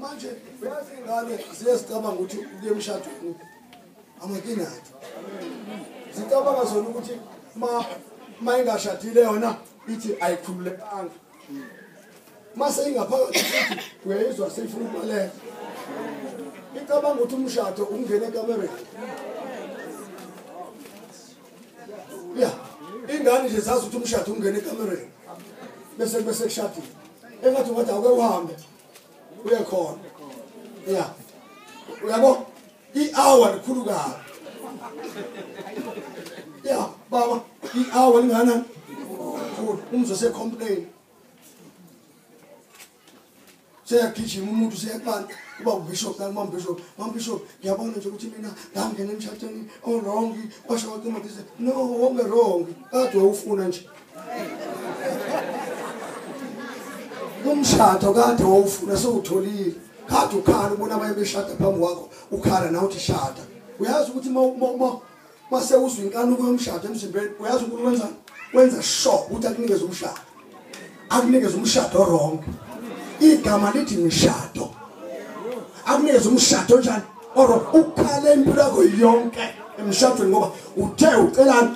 manje uyazi ingane ziyezicabanga ukuthi uye emshadweni amakinati zicabanga zona ukuthi ma ma ingashadile yona ithi ayikhululekanga ma seyingaphakathi futhi uyayizwa seyifuna ukubaleka icabanga ukuthi umshado ungene ekamereni ya ingane nje zazi ukuthi umshado ungena ekamereni bese bese kushadile engathi wathi awuke uhambe uye khona ya uyabo i-hour likhulu kabi ya baba i-hour lingana khulu umzwe secomplain seyagijima umuntu seyaqala uba ubishop nami mambishop mambishop ngiyabona nje ukuthi mina ngangena emshatweni owrong kwasho wacima dise no wonge wrong kade wawufuna nje umshado kade wawufuna sewutholile kade ukhala ubona abaye beshada phambi kwakho ukhala nawe uthi shada uyazi ukuthi uma mase uzwa inkanuko yomshado emzimbeni uyazi unkulunkulu wenza wenza sure ukuthi akunikeze umshado akunikeze umshado wrong igama lithi mishado akunikeze umshado njani oro ukhale impilo yakho yonke emshadweni ngoba uthe ucelani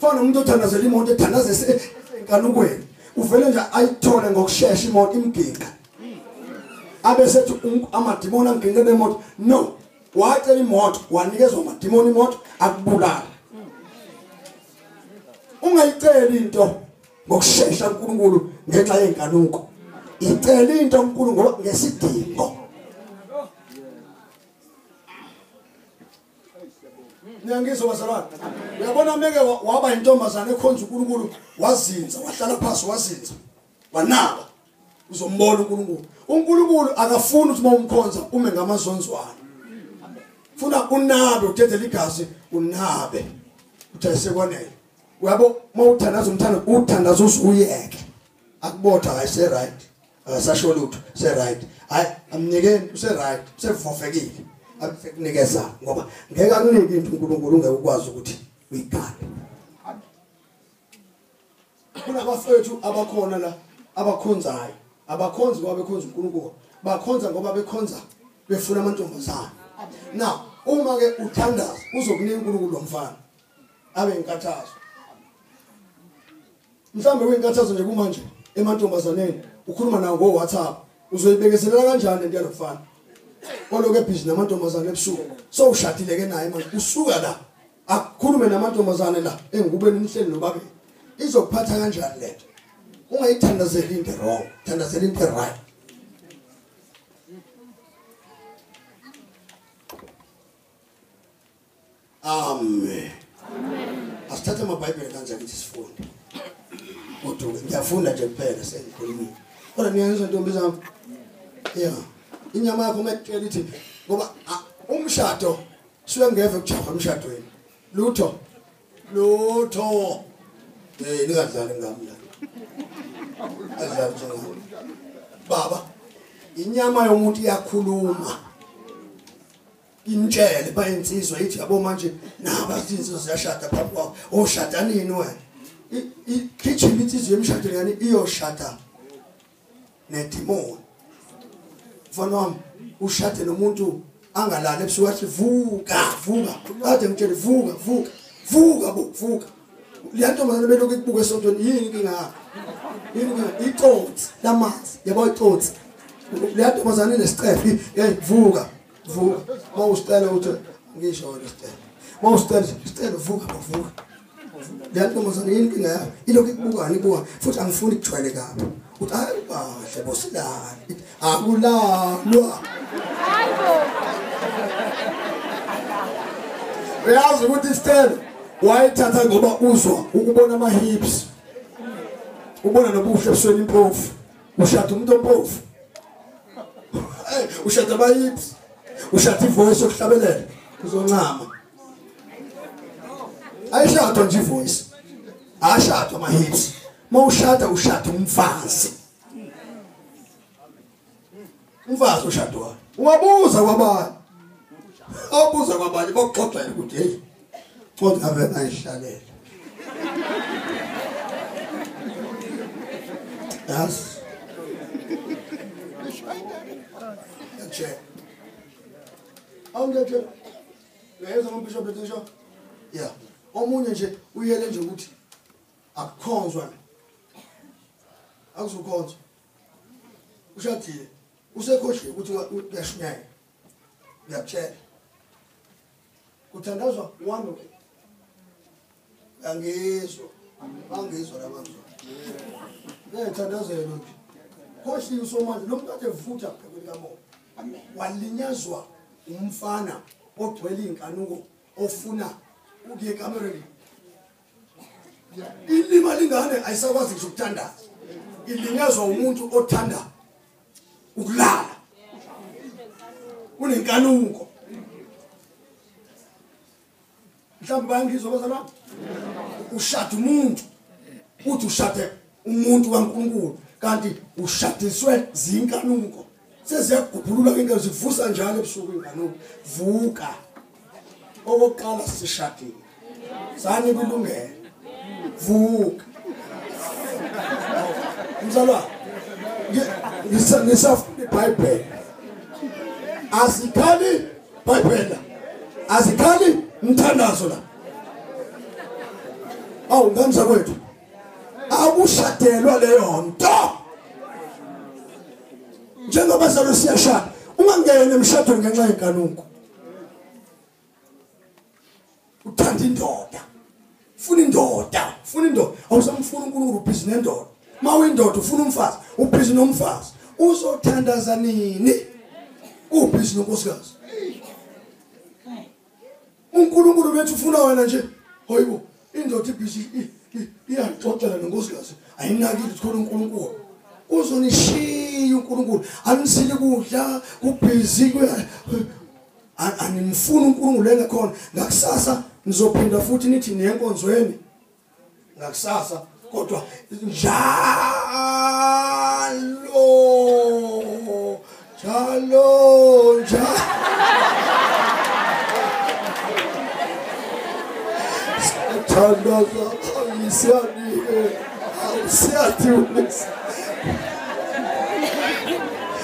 fana umuntu othandazela imoto ethandazese enkanukweni uvele nje ayithole ngokushesha imoto imginqa abe sethi amadimoni anginqe bemoto no wacela imoto wanikezwa amadimoni imoto akubulala ungayiceli into ngokushesha uNkulunkulu ngenxa yenkanuko icela into uNkulunkulu ngesidingo niyangizwa bazalwane uyabona meke waba yintombazane ekhonza unkulunkulu wazinza wahlala phasi wazinza wanaba uzombona unkulunkulu unkulunkulu akafuni ukuthi uma umkhonza ume ngamazonzwana funa unabe udedele igazi unabe uthi ayisekwanele uyabo uma uthandaza umthanda uthandaza uzuyeke akubotha ayise-right akasasho lutho se right hayi amnikeni use right usevofekile akunikeza ngoba ngeke akunike into uNkulunkulu ungeke ukwazi ukuthi uyikhale kunabafethu abakhona la abakhonzayo abakhonzi ngoba bekhonza uNkulunkulu bakhonza ngoba bekhonza befuna amantombazana now uma ke uthandaza uzokunika uNkulunkulu lomfana abe inkathazo mhlawumbe kuyinkathazo nje kumanje emantombazaneni ukhuluma nawo ngo-whatsapp uzoyibekezelela kanjani lento yalokufana oloke bhizi namantombazane ebusuku so ushadile ke naye manje usuka la akukhulume namantombazane la engikubeni nihleli nobabili izokuphatha kanjani lento ungayithandazeli into wrong thandazela into right Amen. Amen. Asithathe amabhayibheli kanje akithi sifunde. Kodwa ngiyafunda nje kuphela sengikhulumile. Kodwa niyayizwa ntombi zami. Yeah. Inyama yakho mekutshela ithi ngoba umshado suke ngeve kujahwa emshadweni. Lutho. Lutho. Eh ningadlali ngami la. Adlali njengami. Baba inyama yomuntu iyakhuluma. Ngimtshele bayinsizwa ithi yabo manje naba izinsizwa ziyashada phambi kwakho. Oshada oh, nini wena? Igijima insizwa yemshadweni yani iyoshada nedemon. Mfana wami ushade nomuntu angalali ebusuku athi vuka vuka kade ngitshele vuka vuka vuka bo vuka le ntombazane belokhu ikubuka esontweni yini inkinga yakho yini inkinga icotsi lamanzi yabo icotsi le ntombazane inesicefo hey vuka vuka uma usicela ukuthi ngisho wena sicela uma usicela sicela vuka bavuka leyantombazane yini inkinga yayo ilokhu ikubukani ibuka futhi angifuni kujwayele kabi uthi hayi kahle bosilani akulalwa uyazi ukuthi isicelo wayithatha ngoba uzwa ukubona ama-hips ubona nobuhle ebusweni impofu ushada umuntu ompofu ushada abayips ushada ivoice yokuhlabelela uzoncama ayishadwa nje ivoice ashadwa amahips mawushada ushada umfazi Umfazi oshadwayo. Ungabuza kwabani? Awubuza kwabani bokuxoxa ukuthi hey. Kodwa ave ayihlalela. Yas. Che. Awungathi uyeza ngombishop etisho? Yeah. Omunye nje uyele nje ukuthi akukhonzwa. Akuzokhonzwa. ushadile usekhohliwe ukuthi uyashunyaya ngiyakutshela kuthandazwa one way angizwa angizwa labazwa ngiyathandazelo nje khohliwe usomandla lo muntu ade vutha phekweni kamoya walinyazwa umfana ogcwele iy'nkanuko ofuna ukuye ekamereni ilima lingane ayisakwazi ngisho ukuthandaza ilinyazwa umuntu othanda ukulala unenkanuko mhlawumbe bayangizwa bazalwane ushada umuntu uthi ushade umuntu kaNkulunkulu kanti ushadiswe zinkanuko seziyagubhulula into zivusa njalo ebusuku inkanuko vuka okokuqala sishadile sani kulungela vuka mzalwa ngisafunda ibhayibheli asikhali bhayibhela asikhali mthandazo la awu ngamza kwethu awushadelwa leyo nto njengoba salo siyashada ungangeni emshadweni ngenxa yeganuko uthanda indoda funa indoda funa indoda awusamfuna uNkulunkulu ubhizi nendoda mawindoda ufuna umfazi ubhizi nomfazi uzothandaza nini ubhizi nonkosikazi uNkulunkulu bethu ufuna wena nje hoyibo indoda ibhizi iyaxoxela nonkosikazi ayinakile ukuthi khona uNkulunkulu uzonishiya uNkulunkulu anisile kudla kubhizi animfuni uNkulunkulu engekhona ngakusasa nizophinda futhi nithi niyenkonzweni ngakusasa kodwa njalo njalo njalo thandaza ayisiyani-ke awusiyathi unisa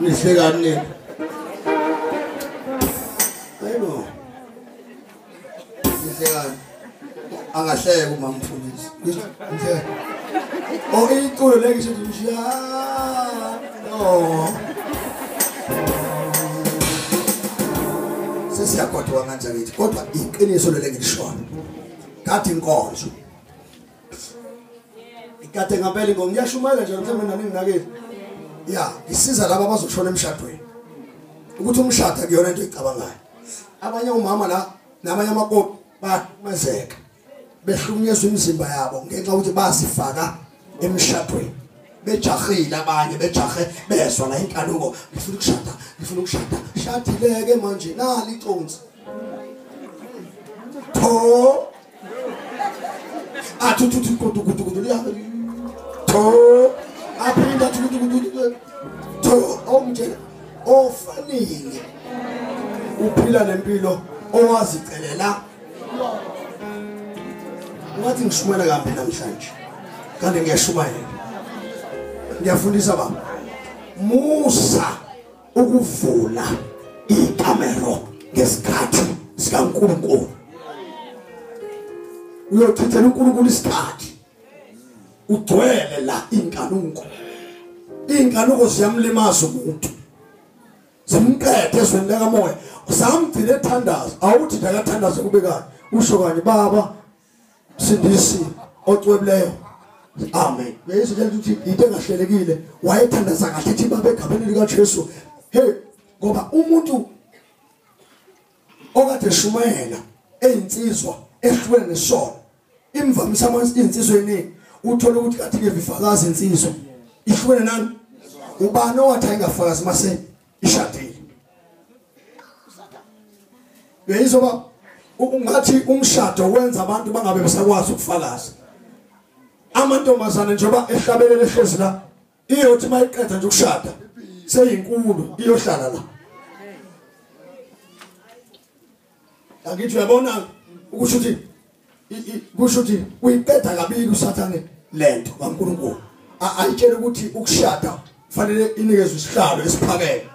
Nihlekani. Ayibo. Nihlekani. Angahleka uma ngifundisa. Ngisho nje. Oh iculo le ngisho nje. No. Sesiyagodwa manje ngithi kodwa iqiniso lele ngishoyo. Kathi inkonzo. Ikade ngempela inkonzo ngiyashumayela nje mhlawumbe nani nginakile. Yeah, isiza laba bazoshona emshadweni. Ukuthi umshado akuyona into ecabangayo. Abanye umama la namanye amakoti bayamazeka. behlukunyezwa imizimba yabo ngenxa ukuthi bazifaka emshadweni bejahile abanye bejahe bezwa la inkanuko ngifuna ukushada ngifuna ukushada shadileke manje nali iconsi tho athuthuthi kudu kudu kudu liyabe tho aphinda kudu kudu tho omjela ofanele uphila nempilo owazicelela ngathi ngishumayela kambi namhlanje kanti ngiyashumayela ngiyafundisa baba musa ukuvula ikamero ngesikhathi sikaNkulunkulu uyochithela uNkulunkulu isikhathi ugcwele la inkanuko inkanuko ziyamlimaza umuntu zimqede ezweni lekamoya usamgcina ethandaza awuthi nje akathandaze kube kani usho kanye baba sindisi ocwebileyo amen bese nje ukuthi into engahlelekile wayethandaza kahle ethi baba egameni likaJesu hey ngoba umuntu okade shumayela eyinsizwa ehlukene nesona imvamisa amanzi insizwa eningi uthola ukuthi kathi ke vifakazi insizwa ihlukene nani ubani owathi ayingafakazi mase ishadile beyizoba ungathi umshado wenza abantu bangabe besakwazi ukufakaza amantombazane njengoba ehlabelele ehlezi la iyothi mayiqeda nje ukushada seyinkulu iyohlala la angithi uyabona ukusho ukuthi kusho ukuthi uyiqeda kabili usathane lento kaNkulunkulu ayitshela ukuthi ukushada kufanele inikezwe isihlalo esiphakeme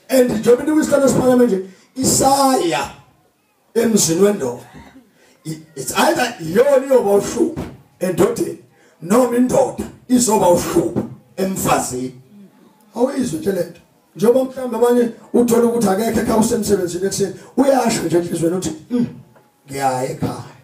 and njengoba inikwe isihlalo esiphakeme nje isaya emzini wendoda it's either iyona iyoba uhlupho endodeni noma indoda izoba uhlupho emfazini awuyizwe nje lento njengoba mhlawumbe abanye uthola ukuthi akekho ekhaya usemsebenzini ekuseni uyasho nje enhlizweni uthi hmm, ngiyaye ekhaya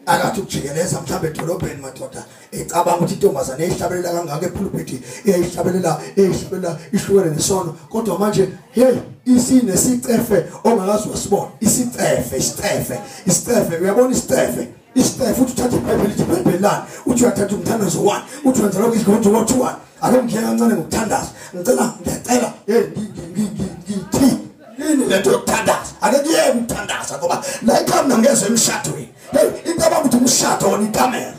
akathi ukujikeleza mhlawumbe edolobheni madoda ecabanga ukuthi intombazane eyihlabelela kangaka ephulupiti eyihlabelela eyihlabelela ihlukene nesono kodwa manje hey isine sicefe ongakazi wasibona isicefe isicefe isicefe uyabona isicefe isicefe uthi uthatha ibhayibheli ithi ibhayibheli lani uthi uyathatha umthandazo wani uthi wenza lokho izigonto wothi wani ake ngiyeka kancane ngokuthandaza ngicela ngiyacela hey ngithi yini lento yokuthandaza ake kuyeke ukuthandaza ngoba la ikhami nangezwe emshadweni hey into abakuthi umshado wona ikamela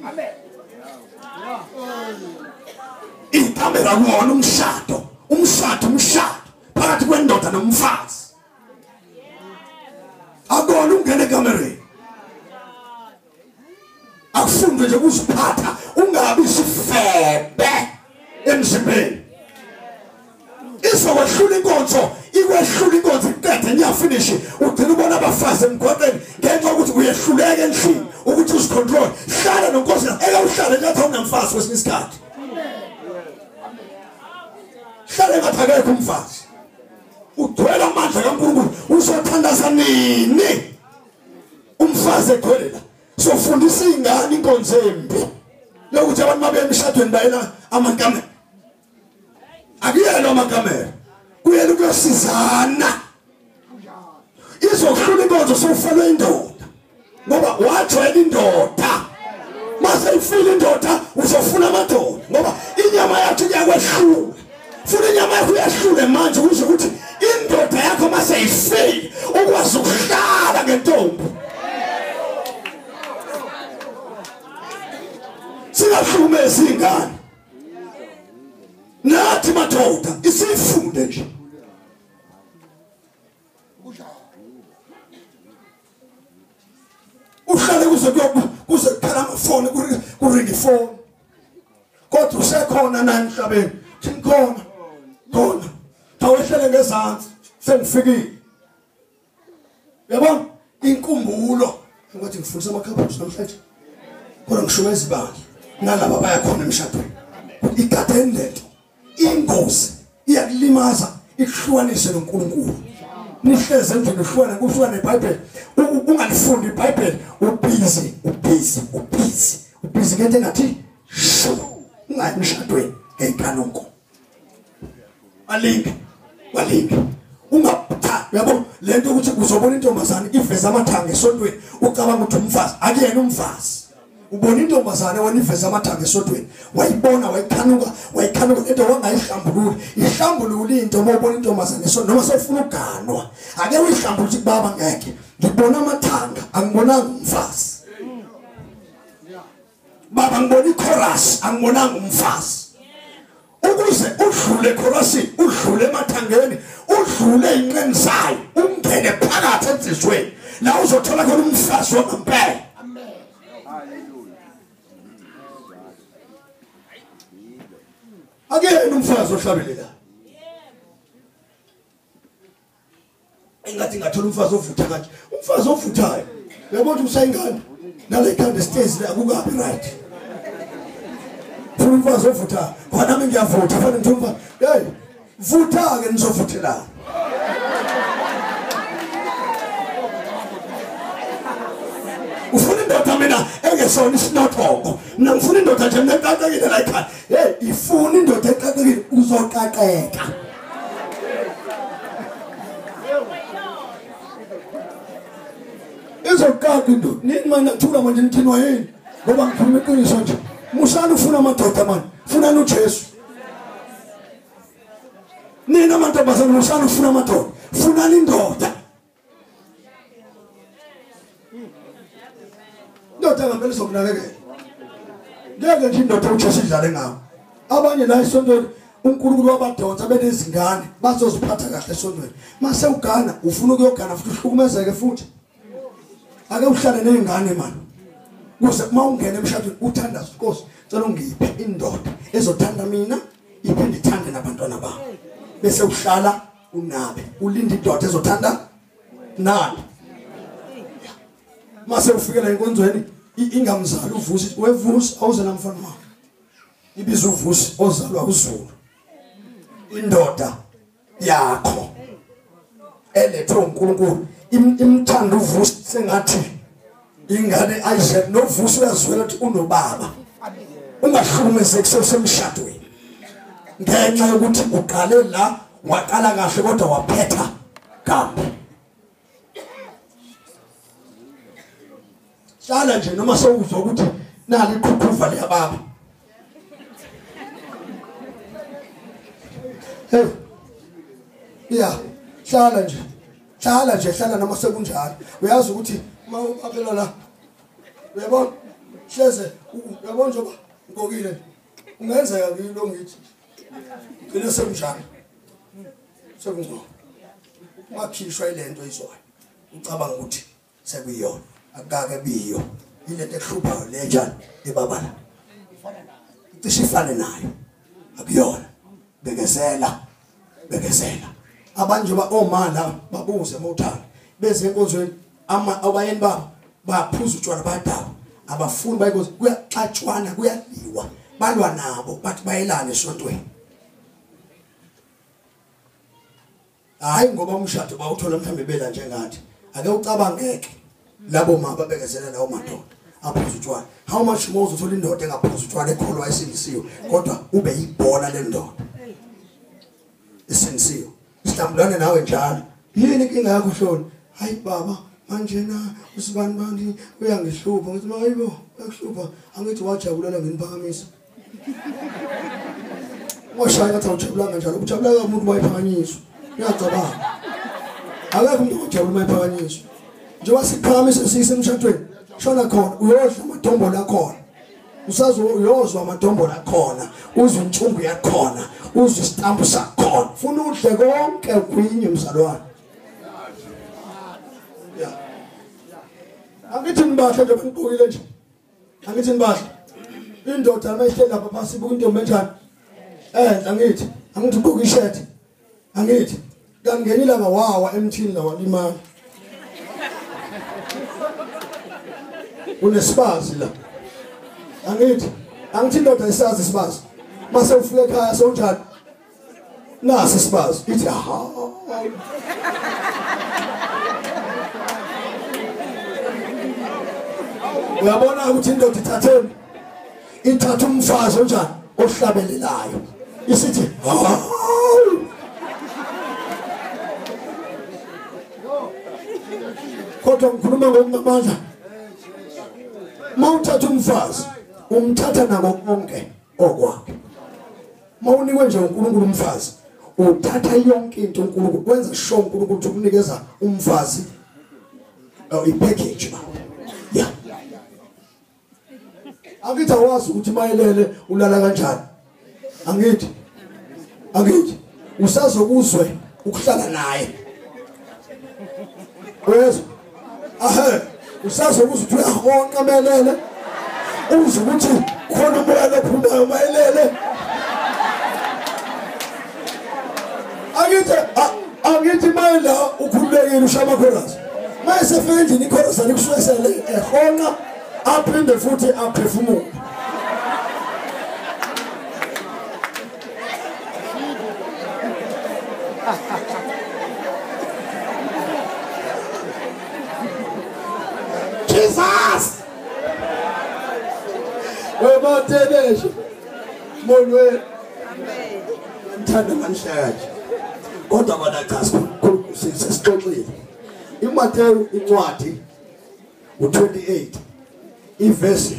amen ikamela kuwona umshado umshado umshado phakathi kwendoda nomfazi akona ungene ekamereni akufunde nje kuziphatha ungabi sifebe emzimbeni izokwehlula inkonzo ikwehlula inkonzo iqede ngiyafinishi ugcina ubona abafazi emgwaqeni ngenxa yokuthi uyehluleka endlini ukuthi uzicontrol hlala nonkosi eke uhlale ngathi awunamfazi kwesinye isikhathi hlale ngathi akekho umfazi ugcwele amandla kankulunkulu uzothandaza nini umfazi egcwele la sofundisa izingane inkonzo embi lokuthi abantu babe emshadweni bayela amankamera akuyena amankamera kuyena ukuyosizana izohlula inkonzo sokufelwe indoda ngoba wajwayela indoda mase ifile indoda uzofuna amadoda ngoba inyama yakhe iyakwehluka funa inyama yakho uyahlule manje kusho ukuthi indoda yakho mase ifile ukwazi ukuhlala ngentombi singahlukumezi ingane nathi madoda isifunde nje uhlale kuze kuze kukhala amafoni kuringa ifoni kodwa usekhona nani emhlabeni ngimkhona khona thawehlele ngezantsi sengifikile yabona inkumbulo ngokuthi ngifundisa amakhaphusha namhlanje kodwa ngishumeza ibandla nalaba bayakhona emshadweni igadeni lento ingozi iyakulimaza ikuhlukanise noNkulunkulu nihleze endlini uhlukane kuhlukane neBhayibheli ungalifundi iBhayibheli ubhizi ubhizi ubhizi ubhizi ngento engathi shu ungayi emshadweni ngeyinkanuko alinge walinge ungapha yabo lento ukuthi uzobona intombazane iveza amathanga esontweni ucabanga ukuthi umfazi akuyena umfazi ubona intombazane waniveza amathanga esodweni wayibona wayikhanuka wayikhanuka into wangayihlambululi ihlambulule into uma ubona intombazane so noma sofuna uganwa ake uyihlambulule ukuthi baba ngeke ngibona amathanga angibonanga umfazi baba ngibona ichorus angibonanga umfazi ukuze udlule ekhorasini udlule emathangeni udlule inqeni zayo ungene phakathi ensizweni la uzothola khona umfazi wangempela akuyena umfazi ohlabelelayo engathi ngathola umfazi ovutha kanje umfazi ovuthayo yabo ukuthi usayingane nale khanda stezi la kukabi right funa umfazi ovutha khona mina ngiyavutha fanele ngithi umfazi hey vutha ke nizovuthela ufuna indoda mina engesona isinothongo mina ngifuna indoda nje mina eqaqekile la ekhaya hey ifuna indoda eqaqekile uzoqaqeka izoqaqa into nini manje nathula manje nithinwa yini ngoba ngikhuluma iqiniso nje musani ufuna amadoda mani funani ujesu nina mantombazane musani ufuna amadoda funani indoda indoda ngamele sokunakekela ngeke nje indoda uthi sidlale ngawo abanye la esontweni uNkulunkulu wabadonsa benezingane bazoziphatha kahle esontweni mase ugana ufuna ukuyogana futhi uhlukumezeke futhi ake uhlale nezingane manje kuze uma ungena emshadweni uthanda inkosi cela ungiphe indoda ezothanda mina iphinde ithande nabantwana bami bese uhlala unabi ulinda idoda ezothanda nani mase ufikela enkonzweni ingamzali uvusi wevusi awuze namfana wakho ibiza uvusi ozalwa uzulu indoda yakho elethwe uNkulunkulu imthanda uvusi sengathi ingane ayishe novuso uyazwela ukuthi unobaba ungahlukumezeki sesemshadweni ngenxa yokuthi uqale la waqala kahle kodwa waphetha kabi hlala nje noma sewuzwa ukuthi nali iqhuqhuva liyababa Hey. Yeah. Hlala nje. Hlala nje, hlala noma sekunjalo. Uyazi ukuthi uma uphela la. Uyabona? Hleze, uyabona nje ba? Ngokile. Ungenzeka kilo ngithi. Ngine sekunjalo. Sekungcono. Makhishwa ilento izwayo. Ucabanga ukuthi sekuyona akukake biyo ilento ehluphayo le njani ebabala cishe ifane nayo akuyona bekezela bekezela abanje ba omala oh, babuze mawuthanda beze enkonzweni ama abayeni babo baphuza utshwala badaba abafuni bayikoze kuyaxatshwana kuyaliwa balwa nabo bathi bayelane esontweni hayi ngoba umshado bawuthola mhlawumbe bela njengathi ake ucabangeke labo mama babekezela lawo madoda aphuza utshwala how much more uzothola indoda engaphuza utshwala ekholwa esindisiwe kodwa ube yibhola lendoda esindisiwe sihlambulane nawe njalo yini inkinga yakho hloni hayi baba manjena usibani bani uyangihlupha ngithi mayibo uyakuhlupha angithi wajabulela ngeniphakamisa washaya ngathi awujabulanga njalo ukujabulanga umuntu wayiphakanyiswa uyacabanga akekho umuntu ojabula uma ephakanyiswa njengoba siqhamise sise emshadweni shona khona uyodla amathombo lakhona usazo uyozwa amathombo lakhona uzwe intsumbu yakhona uzwe isitambu sakhona funa udle konke kwinye mzalwane angithi ngibahle nje bangibukile nje angithi nibasho indoda amehle lapha phasi buka intombi enjani enhle angithi angithi ugqoka ishirt angithi kangeni langa wawa emthini la walimala unesibazi la angithi angithi indoda isazi isibazi mase ufike ekhaya sonjani nasi sibazi ithi ha uyabona ukuthi indoda ithatheni ithatha umfazi onjani ohlabelelayo isithi kodwa ngikhuluma ngokungamandla mawuthatha umfazi umthatha nako konke okwakho mawunikwe nje uNkulunkulu umfazi uthatha yonke into uNkulunkulu wenza sure uNkulunkulu ukuthi ukunikeza umfazi oh, i package ba yeah angithi awazi ukuthi mayelele ulala kanjani angithi angithi usazokuzwe ukuhlala naye uyezwa ahe usazobuza ukuthi uyahonqa melele uze ukuthi khona umoya lophumayo mayelele angithi angithi mayela ukhululekile ushaya amakhorasi mayesefika endlini ikhorasi alikushwesele ehonqa aphinde futhi aphefumule Jesus! Wematebeshe. Molweni. Amen. Ngithanda manhlanje. Kodwa kona cha sikhulu sisixoxile. IMateyu incwadi u28 ivesi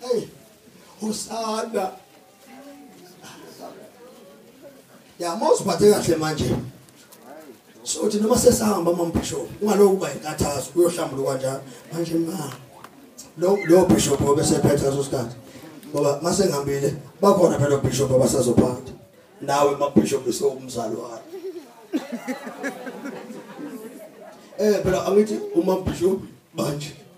Hey, usanda. Ya mawuziphathe kahle manje. So uthi noma sesahamba mama bishop, ungaloku kuba inkathazo uyohlambuluka kanjani? Manje ma. Lo lo bishop obesephethe leso sikhathi. Ngoba mase ngihambile bakhona phela bishop abasazophatha. Nawe ma bishop usewumzali wakhe. Eh phela angithi uma bishop manje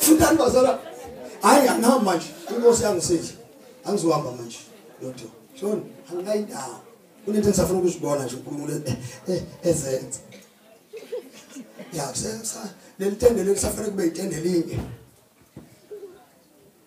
fundani bazala hayi angihamba manje inkosi yangisidla angizohamba manje lodwa shona anginayi ndawo kunento engisafuna ukuzibona nje unkulunkulu eh, eh, ezenza ya leli tende leli safanele kube yitende linye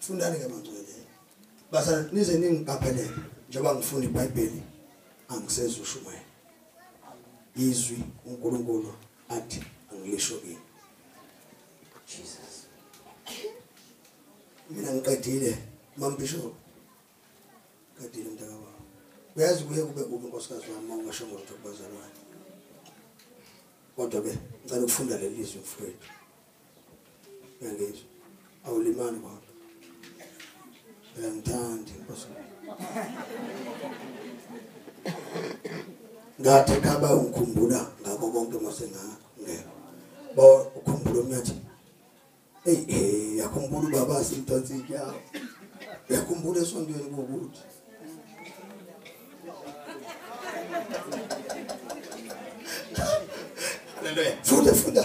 fundani ke mangcwele basa nize ningigabhelele njengoba ngifunda iBhayibheli angisezwe ushumayela izwi uNkulunkulu athi angilisho kini Jesus mina ngiqedile mambishop qedile mntaka baba uyazi kuye kube kubi nkosikazi wami mawungasho ngolutho kubazalwane kodwa ke ngicela ukufunda leli zwi mfowethu uyangizwa awulimali kwakho uyangithanda inkosi ngathi khaba ungikhumbula ngakho konke mase ngangekho ba ukhumbula umnyathi hey hey yakhumbula ubaba simtansi yakho yakhumbula esontweni kokuthi Hallelujah. Funda funda.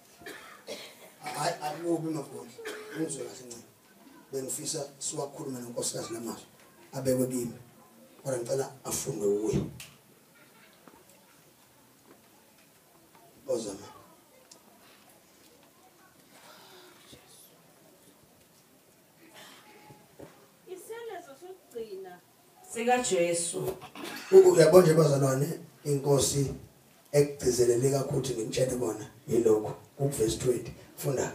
hayi akubi magoli ngizwe kahle ncane bengifisa siwakhulume nonkosikazi lamazwi abekwe kimi kodwa ngicela afunde kuye ozama sikaJesu. Uyabo nje bazalwane inkosi ekugcizelele kakhulu ngimtshele bona yilokho ukuvesi 20 funda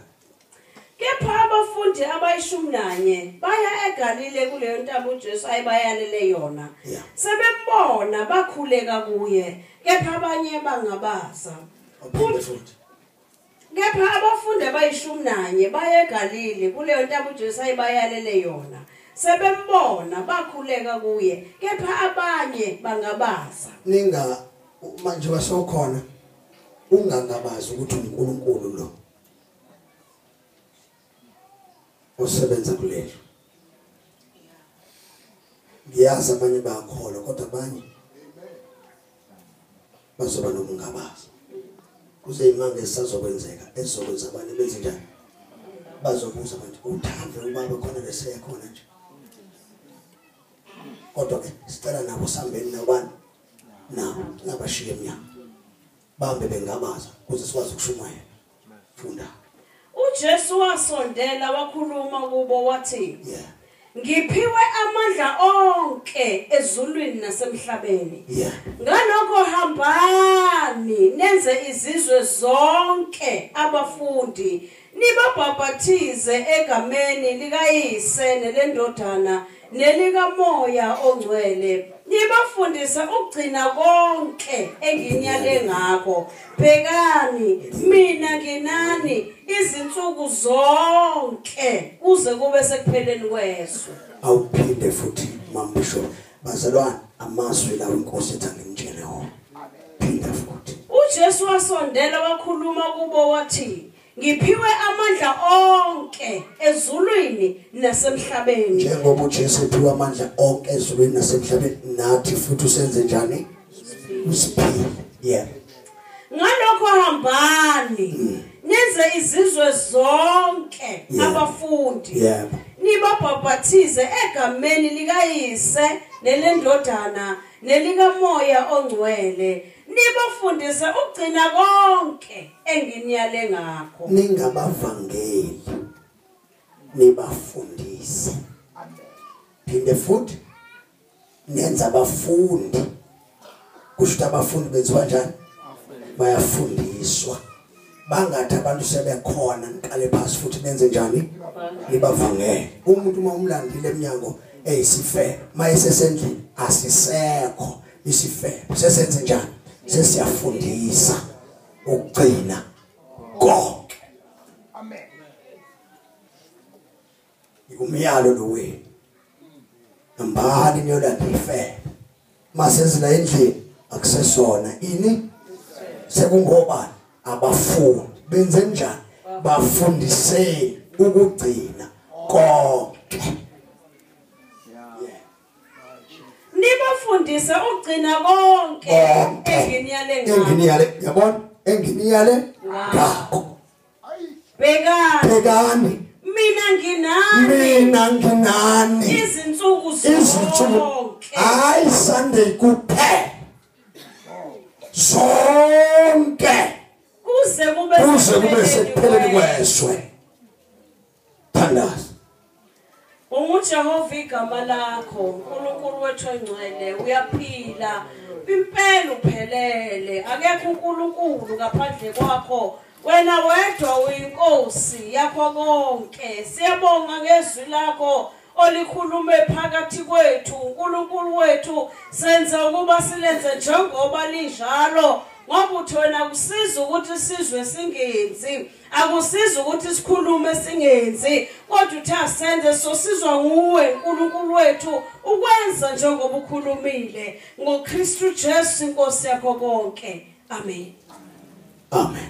Kepha abafundi abayishumi nanye baya eGalile kuleyo ntaba uJesu ayibayalele yona. Sebebona bakhuleka kuye kepha abanye bangabaza. Uphinde futhi. Kepha abafundi abayishumi nanye baye eGalili kuleyo ntaba uJesu ayebayalele yona. Sebembona bakhuleka kuye kepha abanye bangabaza. Ninga manje basokhona ungangabazi ukuthi uNkulunkulu lo. osebenza kulelo ngiyazi abanye bayakholwa kodwa abanye bazoba nokungabaza kuze imanga esazokwenzeka ezokwenza abanye benze njani bazobuza manje uthando ubaba khona lesekhona nje kodwa ke sicela nabo sambeni nabani nabo ngabashiye emnyango bambe bengabaza kuze sikwazi ukushumayela funda uJesu wasondela wakhuluma kubo wathi yeah ngiphiwe amandla onke ezulwini nasemhlabeni yeah ngalokho hambani nenze izizwe zonke abafundi Nibabhapathize egameni likaYise neleNdodana nelikaMoya oNgcwele. Nibafundise ukugcina konke enginyale ngakho. Bhekani, mina nginani izinsuku zonke kuze kube sekupheleni kwezwe. Awuphinde futhi Mambisho. Bazalwane amazwi lawo inkosi ethi angimtshele wona. Phinda futhi. UJesu wasondela wakhuluma kubo wathi ngiphiwe amandla onke ezulwini nasemhlabeni njengoba uJesu ephiwe amandla onke ezulwini nasemhlabeni nathi futhi usenze njani usiphile yeah ngalokho hambani mm. nenze izizwe zonke abafundi nibabhabhathize egameni likayise nelendodana nelikamoya ongcwele nibafundise ukugcina konke enginiyale ngakho ningabavangeli nibafundise phinde futhi nenza abafundi kusho ukuthi abafundi benziwa njani bayafundiswa bangathi abantu sebekhona niqale phasi futhi nenze njani nibavangele umuntu uma umlandile eminyango eyisifebe mayesesendlini asisekho isifebe sesenze njani sesiyafundisa ukugcina konke amen Ngumyalo lo wenu. Nambani niyolanda ifele. Masezila endlini akusesona ini sekungobani abafundi benze njani bafundiseni ukugcina konke nibafundise ukugcina konke enginiyale ngakho enginiyale yabona enginiyale ngakho bhekani bhekani mina nginani mina nginani izinsuku zonke hayi sunday kuphela zonke kuze kube kuze kube sekupheleni kwezwe Thandaza. UJehova igama lakho, uNkulunkulu wethu engcwele, uyaphila. Impela uphelele, akekho uNkulunkulu ngaphandle kwakho. Wena wedwa uyinkosi yakho konke. Siyabonga ngezwi lakho. olikhulume phakathi kwethu uNkulunkulu wethu senza ukuba silenze njengoba linjalo ngoba uthi wena kusiza ukuthi sizwe singenzi Akusizi ukuthi sikhulume singenzi kodwa uthi asenze sosizwa nguwe uNkulunkulu wethu ukwenza njengoba ukhulumile ngoKristu Jesu inkosi yakho konke. Amen. Amen.